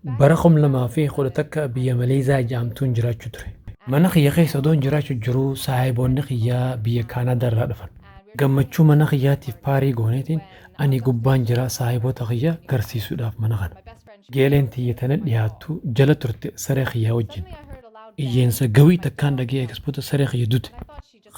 Bara 2011 biyya Maleezaa jaamtuun jiraachu ture. Mana kiyya keessa odoon jiraachu jiruu saahiboonni kiyya biyya Kaanaadaa irraa dhufan. Gammachuu mana kiyyaatiif paarii gooneetiin ani gubbaan jira saahiboota kiyya garsiisuudhaaf mana kana. Geeleen tiyya tana dhiyaattu jala turte saree kiyyaa wajjin. Iyyeensa gawii takkaan dhagee eegasbooda saree kiyya dute.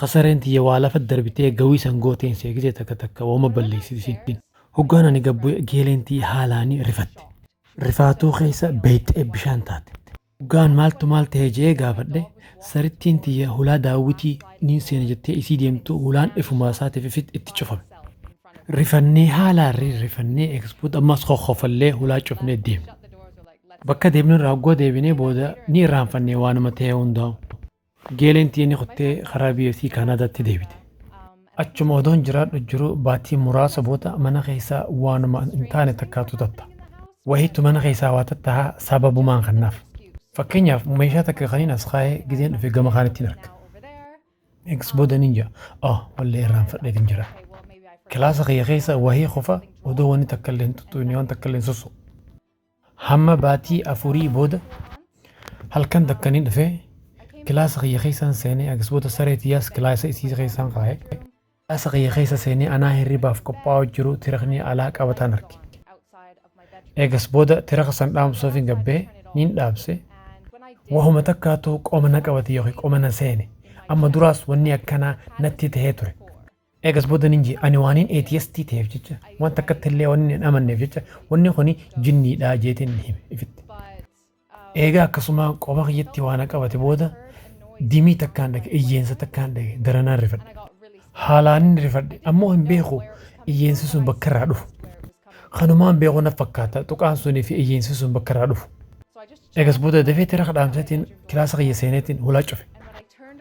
Ka sareen tiyya waa lafa darbitee gawii san gooteen seegisee takka takka wooma balleessiti isiin. Hoggaan ani gad bu'e geeleen tiyya haalaan rifatte. Rifaatuu keessa beeyxee bishaan taate. Hoggaan maaltu maal tahe je'ee gaafadhe, sarittiin tiyya hulaa Daawwitii niin seena jettee isii deemtu hulaan ifumaa isaatiif ifitti itti cufame. Rifannee haalaan rirrifannee eegas booda ammas kokkofallee hulaa cufnee deemne. Bakka deemnerraa hogguu deebinee booda ni irraanfanne waanuma tahe hundaa'uu. Geeleen tiyya ni kuttee karaa biyya isii Kaanaadaatti deebite. Achuma odoon jiraadhu jiruu baatii muraasa booda mana keessaa waanuma hin taane takkaatu tatta. Wahiitu mana keessaa waa tattaha sababumaan kannaaf. Fakkeenyaaf meeshaa takka kaniin as kaa'ee gizeen dhufe gama kaanittiin arga. Eegas booda niin ja'a. Oh wallee irraanfadheetiin jira. Kilaasa kiyya keessa wahii qofa odoo wanni takka illee hin tuttuqne waan takka illee hin sossoqu. Hamma baatii afurii booda halkan takka ni dhufe, kilaasa kiyya keessan seenee agsboota saree tiyyaas kilaasa isii keessan kaaye. Kilaasa kiyya keessa seenee anaa hirribaaf qophaa'uu jiru tirakni alaa qabataan arge. Eegas booda tiraka san dhaamsuufin gabbee niin dhaabse, wahuma takkaatu qoma na qabate yookiin qoma na seene, amma duraas wanni akkanaa natti tahee ture. Eegas booda nin jee ani waaniin ATST ta'eef jecha waan takkatti illee waan hin amanneef jecha wanni kuni jinniidha jeetiin hime ifitti. Eegaa akkasuma qoma kiyyatti waana qabate booda dimii takkaan dhage iyyeensa takkaan dhage daranaan rifadhe. Haalaanin rifadhe ammoo hin beeku iyyeensi sun bakka irraa dhufu. Kanumaan beeku na fakkaata tuqaan sunii fi iyyeensi sun bakka irraa dhufu. Egas booda dafee tira kadhaamseetiin kilaasa kiyya seeneetiin hulaa cufe.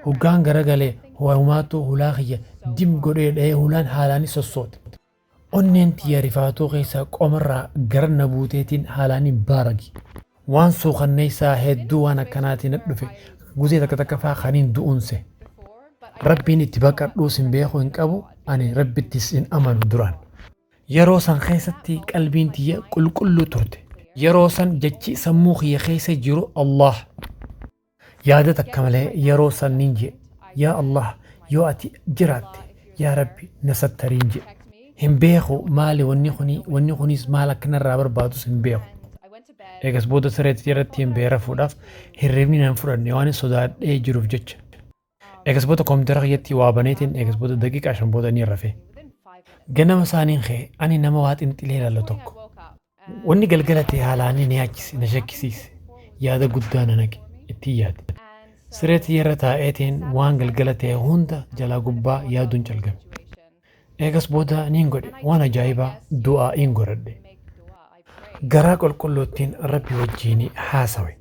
Hoggaan garagalee ho'ahumaattuu hulaa kiyya dim godhee dha'ee hulaan haalaani sossoote. Onneen tiyya rifaatuu keessaa qomarraa gara na buuteetiin haalaani baarage. Waan suukanneessaa hedduu waan akkanaatii na dhufe guzee takka takka faa kaniin du'uun sehe. Rabbiin itti baqadhuus hin beeku hin qabu ani rabbittis hin amanu duraan. Yeroo san keessatti qalbiin tiyya qulqulluu turte. Yeroo san jechi sammuu kiyya keessa jiru Allaah. Yaada takka malee yeroo san nin je'e, Yaa Allaah! Yoo ati jiraatte, yaa Rabbi! Na sattariin je'e. Hin beeku maali wanni kuni, wanni kunis maal akka narraa barbaadus hin beeku. Eegas booda siree tiyya irrattiin bahee rafuudhaaf hirribni na hin fudhanne waanin sodaadhee jiruuf jecha. Egas booda koompitara kiyyatti waa baneetiin egas booda daqiiqaa shan booda ni rafe. Ganama isaaniin ka'e ani nama waa xinxilee ilaalu tokko. Wanni galgala ta'e haalaan ni yaachise na shakkisiise. Yaada guddaa na naqe ittiin yaade. Siree tiyyarra taa'eetiin waan galgala ta'e hunda jalaa gubbaa yaaduun calgame. Eegas booda niin godhe, waan ajaa'ibaa, du'aa'iin godhadhe. Garaa qulqulluuttiin Rabbi wajjiin haasawe.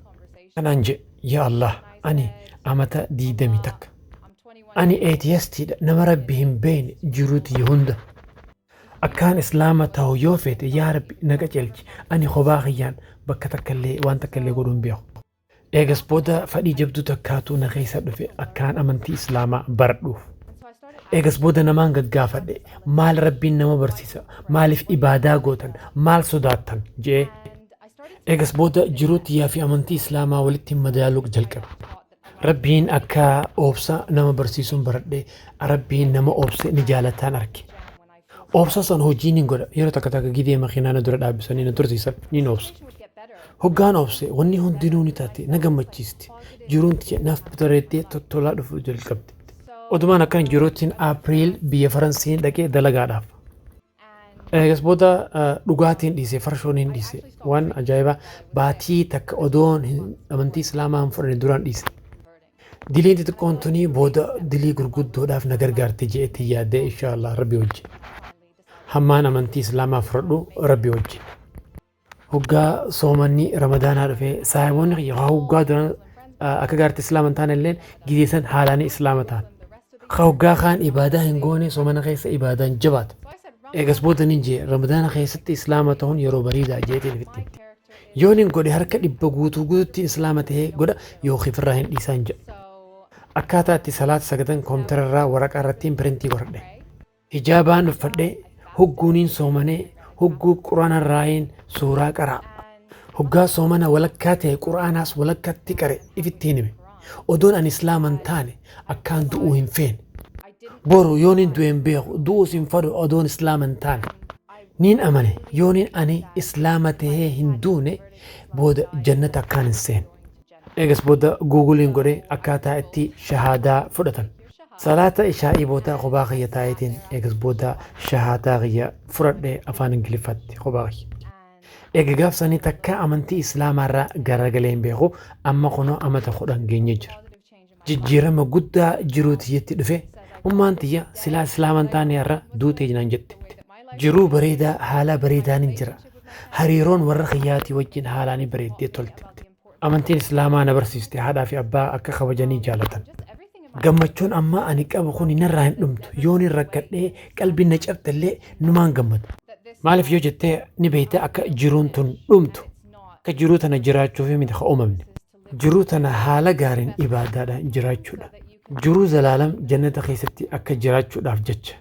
Kanaan je'e, Yaa Allaah! Ani amata diiydamii takka. Ani atheist dha, nama Rabbi hin beeyne jiruu tiyya hunda. Akkaan Islaama tahu yoo feete, yaa Rabbi na qaceelchi, ani khobaa khiyyaan bakka takkallee waan takkallee godhuu hin beekhu. Eegas booda fadhii jabduu takkaatu na keessa dhufe akkaan amantii islaamaa baradhuuf. Eegas booda namaan gaggaafadhe maal rabbiin nama barsiisa maaliif ibaadaa gootan maal sodaattan je'ee. Eegas booda jiruu tiyyaa fi amantii islaamaa walitti madaaluu jalqabe. Rabbiin akka obsa nama barsiisuun baradhe rabbiin nama obse ni jaalataan arge. Obsa san hojii nin godha. Yeroo takka takka gidee makiinaa na dura dhaabbisanii na tursiisan nin obsa. Hoggaan obse wanni hundinuu ni taate na gammachiisti. Jiruun tiyya naaf bareeddee tottolaa dhufuu jalqabde. Odumaan akkan jiruuttiin April biyya Faransiin dhaqee dalagaadhaaf. Eegas booda dhugaatiin dhiise farshoon hin dhiise. Waan ajaa'ibaa baatii takka odoon amantii Islaamaa hin fudhanne duraan dhiise. Diliin xixiqqoon tunii booda dilii gurguddoodhaaf na gargaarti je'etti yaadee inshaa Allah rabbi wajjin. Hammaan amantii islaamaa fudhadhu rabbi wajjin. Hoggaa soomanni ramadaanaa dhufee saahiboonni kiyya haa hoggaa duran akka gaarti islaama hin taane illeen gizee san haalaanii islaama ta'an. Ka hoggaa kaan ibaadaa hin goone soomana keessa ibaadaan jabaata. Eegas booda nin jee ramadaana keessatti islaama ta'uun yeroo bariidaa jeetiin ofitti himte. Yoon hin godhe harka dhibba guutuu guututtiin Islaama tahe godha yookiin ifirraa hin dhiisaan jedha. Akkaataa itti salaata sagadan koompitara irraa waraqaa irrattiin pirintii godhadhe. Hijaabaan uffadhe, hogguun hin soomane, hogguu Qur'aana irraayiin suuraa qara'a. Hoggaa soomana walakkaa tahe Qur'aanaas walakkatti qare ifitti hin hime. Odoon ani Islaama hin taane akkaan du'uu hin feene. Boru yoon hin du'e hin beeku, du'uus hin fadhu odoon Islaama hin taane. Niin amane yoonin ani islaama tahee hin duune booda jannata akkaan hin seenne. Eegas booda Google'n godhe akkaataa itti shahaadaa fudhatan. Salaata ishaa'ii booda kophaa kiyya taa'eetiin eegas booda shahaadaa kiyya fudhadhe afaan Ingiliffaatti kophaa kiyya. Eega gaaf sanii takkaa amantii islaamaarraa garagalee hin beeku amma kunoo amata 10 geenyee jira. jijjiirama guddaa jiruu tiyyatti dhufe ummaan tiyya silaa islaama hin taane har'a duute naan jette. Jiruu bareedaa haalaa bareedaanin jira. Hariiroon warra kiyyaatii wajjin haalaa ni bareeddee tolte. Amantiin islaamaa na barsiiste haadhaa fi abbaa akka kabajanii jaalatan. Gammachuun ammaa ani qabu kuni narraa hin dhumtu yoonin rakkadhee qalbiin na cabxellee numaan gammada. Maaliif yoo jette ni beekta akka jiruun tun dhumtu akka jiruu tana jiraachuuf miti ka uumamne. Jiruu tana haala gaariin ibaadaadhaan jiraachuudha. Jiruu zalaalam jannata keessatti akka jiraachuudhaaf jecha.